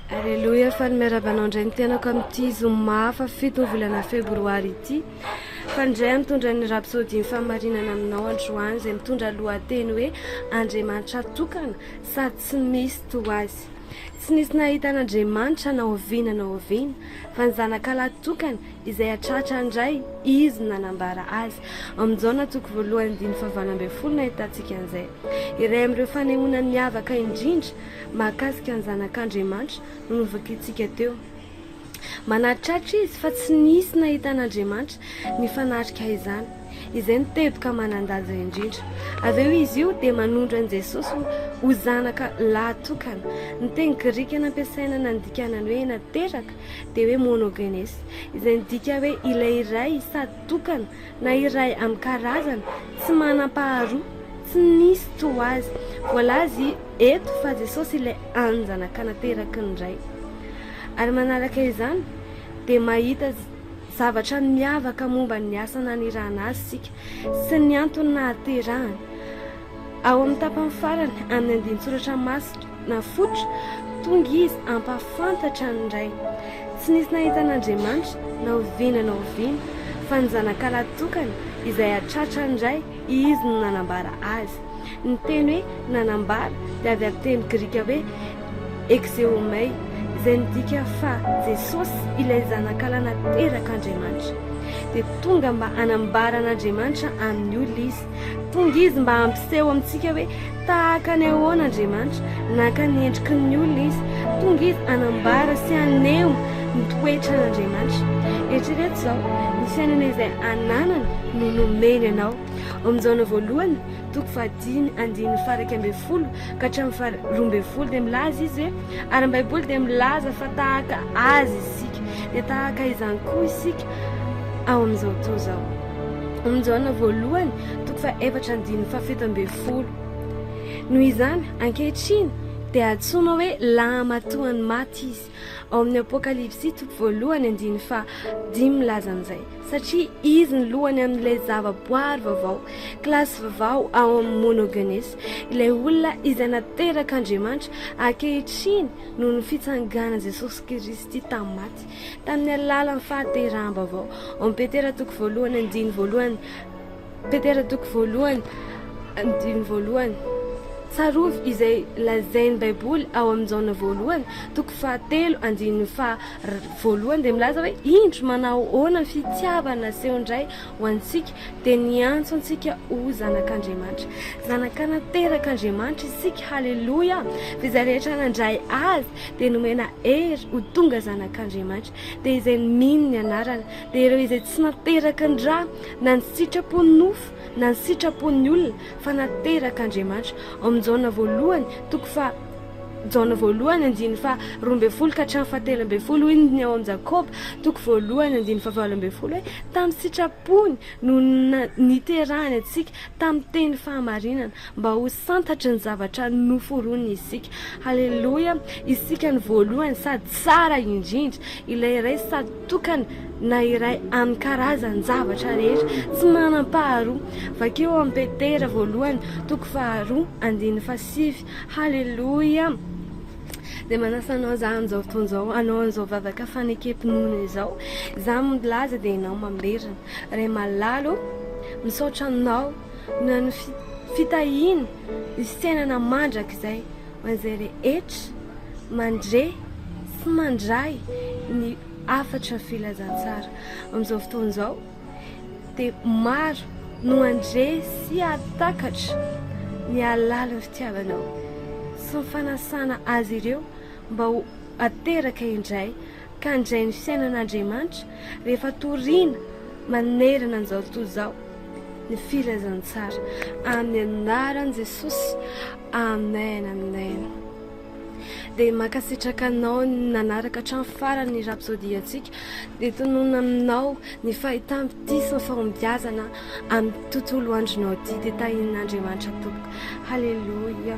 Aleloia, faly miarahaba anao indray ny tenako amin'ity zoma hafa fito ny volana febroary ity. Faly indray mitondra ny rapsodin'ny fahamarinana aminao androany izay mitondra lohateny hoe Andriamanitra tokana sady tsy misy toa azy. Tsy nisy nahita an'Andriamanitra na oviana na oviana, fa ny zanakalahy tokana izay hatratra indray izy nanambara azy. Amin'ny Jaona toko voalohany diny fahavalo ambin'ny folo no ahitantsika an'izay. Iray amin'ireo fanehoana miavaka indrindra mahakasika ny Zanak'Andriamanitra no novakintsika teo. Manatriratra izy fa tsy nisy nahitan'Andriamanitra nifanatrika izany. Izay no teboka manan-danja indrindra. Avy eo izy io dia manondro an'i Jesosy ho, ho zanaka lahy tokana. Ny teny grika nampiasaina nandikana ny hoe nateraka dia hoe monogenes, izay midika hoe ilay iray sady tokana na iray amin'ny karazany, tsy manam-paharoa, tsy nisy toa azy. Voalaza eto fa Jesosy ilay anjanak'anateraky ny Ray. Ary manaraka izany, dia mahita zavatra miavaka momba ny asa nanirahana azy isika, sy ny antony nahaterahany. Ao amin'ny tapany farany amin'ny andinin-tsoratra masina fototra, tonga izy hampahafantatra ny Ray. Tsy nisy nahita an'Andriamanitra na oviana na oviana, fa ny zanakalahy tokana izay hahatratra ny Ray, Izy no nanambara Azy. Ny teny hoe nanambara dia avy amin'ny teny grika hoe exeomai, izay midika fa Jesosy, ilay Zanakalahy naterak'Andriamanitra. Dia tonga mba hanambara an'Andriamanitra amin'ny olona Izy. Tonga Izy mba hampiseho amintsika hoe tahaka ny ahoana Andriamanitra. Naka ny endriky ny olona Izy. Tonga Izy hanambara sy haneho ny toetran'Andriamanitra. Eritrereto izao, ny fiainana izay ananany no nomeny anao. Ao amin'ny Jaona voalohany, toko fahadimy, andininy faharaika ambin'ny folo ka hatramin'ny faharoa ambin'ny folo dia milaza Izy hoe, ary ny Baiboly dia milaza fa tahaka Azy isika, dia tahaka izany koa isika ao amin'izao tontolo izao. Amin'ny Jaona voalohany, toko fahefatra andininy fahafito ambin'ny folo. Noho izany, ankehitriny, dia antsoina hoe lahamatoan'ny maty izy. Ao amin'ny Apokalypsy, toko voalohany andininy fahadimy milaza an'izay. Satria izy no lohany amin'ilay zavaboary vaovao, kilasy vaovao ao amin'ny Monogenes, ilay olona izay naterak'Andriamanitra ankehitriny noho ny fitsanganan'i Jesosy Kristy tamin'ny maty. Tamin'ny alalan'ny fahateraham-baovao ao amin'ny Petera toko voalohany andiny voalohany Petera toko voalohany andiny voalohany Tsarovy izay lazain'ny Baiboly ao amin'ny Jaona voalohany, toko fahatelo, andininy faha voalohany dia milaza hoe indro manahoana ny fitiavana asehon'ny Ray ho antsika dia niantso antsika ho zanak'Andriamanitra. Zanak'anaterak'Andriamanitra isika, haleloia! Fa izay rehetra nandray Azy dia nomena hery ho tonga zanak'Andriamanitra, dia izay mino ny anarany, dia ireo izay tsy nateraka ny rà, na ny sitrapon'ny nofo, na ny sitrapon'ny olona, fa naterak'Andriamanitra. Ao amin'ny Jaona voalohany, toko faha, Jaona voalohany, andininy faha roa ambin'ny folo ka hatramin'ny faha telo ambin'ny folo, hoy ny ao amin'ny Jakoba, toko voalohany, andininy faha valo ambin'ny folo hoe, tamin'ny sitrapony no niterahany antsika. tamin'ny teny fahamarinana mba ho santatry ny zavatra noforoniny isika. Haleloia! Isika ny voalohany sady tsara indrindra, ilay iray sady tokana na iray amin'ny karazan-javatra rehetra, tsy manam-paharoa. Vakio ao amin'ny Petera voalohany toko faharoa andininy fahasivy. Haleloia! Dia manasa anao za amin'izao fotoana izao hanao an'izao vavaka fanekem-pinoana izao. Izaho milaza dia ianao mamberina. Ray malala o, misaotra anao noho ny fitahiana ny fiainana mandrakizay ho an'izay rehetra mandre sy mandray ny hafatra filazantsara amin'izao fotoana izao dia maro no handre sy hahatakatra ny alalin'ny fitiavanao sy ny fanasana azy ireo mba ho ateraka indray ka handray ny fiainan'Andriamanitra rehefa toriana manerana an'izao tontolo izao ny filazantsara amin'ny anaran'i Jesosy amen amen dia mankasitraka anao nanaraka hatramin'ny farany rapsody antsika dia tononina aminao ny fahitam-bitisina fahombiazana amin'ny tontolo andronao ity dia tahin'Andriamanitra tompoko haleloia